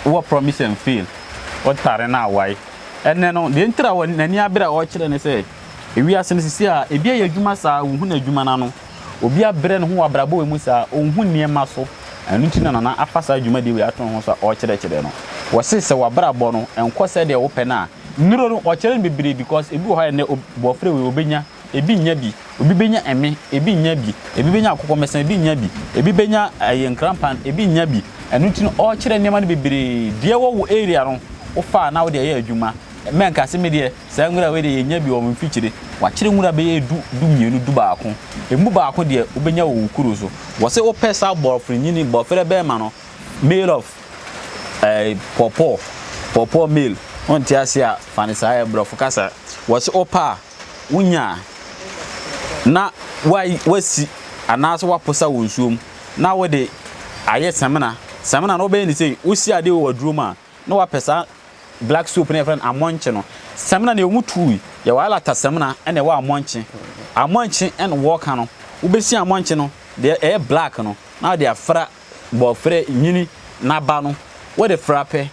wɔ Promise and Fail ɔtare no a wae ɛnnɛ no, deɛ ntira wɔ n'ani abere a ɔrekyerɛ ne sɛ, ewiase no sisi a ebi ayɛ adwuma saa wonhu n'adwuma no ano, obi abrɛ ne ho wɔ abrabɔ wei mu saa ɔnhu nneɛma so, ɛno nti na Nana afa saa dwumadie wei ato ne ho so a ɔrekyerɛkyerɛ no. Wɔse sɛ w'abrabɔ no nkɔ sɛdeɛ wopɛ no a, nnuro no ɔkyerɛ no bebree because ebi wɔ hɔ a ɛnnɛ obi wɔfrɛ wei ɔbɛnya, Ebi nnya bi. Obi benya ɛme, ebi nnya bi. Ebi benya akokɔmɛsɛn, ebi nnya bi. Ebi benya ɛyɛ nkranpan, ebi nnya bi. Ɛno nti no, ɔrekyerɛ nneɛma no bebree. Deɛ ɛwɔ wo area no, wofa a na wode ɛyɛ adwuma. Mɛ nka se medeɛ, saa nwura wei deɛ yɛnnya bi wɔ me mfikyire. Wakyere nwura bɛyɛ du, du mmienu, du baako. Ɛmu baako deɛ, wobɛnya wɔ wo kuro so. Wɔse wopɛ saa bɔɔfere nyini, bɔɔfere bɛɛma no, male of eh, pɔpɔɔ, pɔpɔɔ male, wonte aseɛ a, fa no saa, ɛyɛ borɔfo kasa. Wɔse wopɛ a. wonya a, na woasi anaasɛ woaposa wɔ nsuo mu na wode ayɛ samina. Samina no wobɛyɛ ne sei, wosi adeɛ wɔ waduro mu a, na wapɛ saa black soap no yɛfrɛ no amɔnkye no. Samina no yɛwɔ mu tuu, yɛwɔ alata samina ɛna ɛwɔ amɔnkye. Amɔnkye ɛna wɔka no, wobɛsi amɔnkye no deɛ ɛyɛ black no na wode afra Wɔfrɛ nyini na ba no wode fra pɛ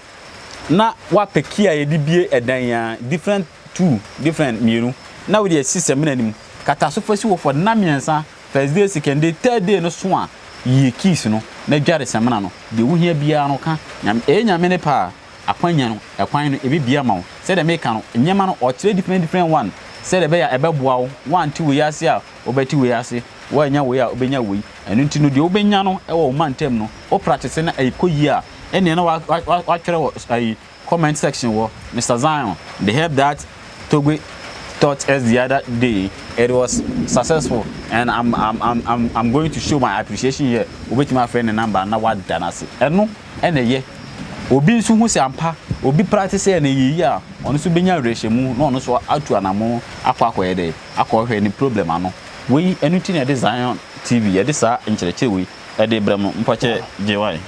na wapɛ key a yɛde bie ɛdan a different two different mmienu na wode asi samina no mu kata so fa si hɔ for nna mmiɛnsa first day second day third day no so a yie keys no na dware samina no deɛ wohia biara no ka nyame ɛyɛ nyame ne paa. Akwanya no, ɛkwan no, ɛbɛbie ama wo. Sɛdeɛ meka no, nneɛma no, ɔkyerɛ different different one, sɛdeɛ ɛbɛyɛ a ɛbɛboa wo. Woante wei ase a, wobɛte wei ase, woannya wei a, wobɛnya wei. Ɛno nti no, deɛ wobɛnya no wɔ wo mantam no, wo practice na ɛkɔ yie a, ɛnneɛ na woatwerɛ wɔ ayi, comment section hɔ, Mister Zion, the help that Togbe taught us the other day, it was successful and I'm I'm I'm I'm going to show my appreciation here, wobɛtumi afrɛ ne number na woada no ase. Ɛno na ɛyɛ. Obi nso hu sɛ ampa obi practice yɛ no ɛyɛ yie a, ɔno nso bɛnya awerɛhyɛmu na ɔno nso atu anammɔn akɔ akɔyɛ dɛn, akɔhwɛ ne problem ano. Wei, ɛno nti na yɛde Zion TV, yɛde saa nkyerɛkyerɛ wei de brɛ mo. Mpakyɛ, Gyewae.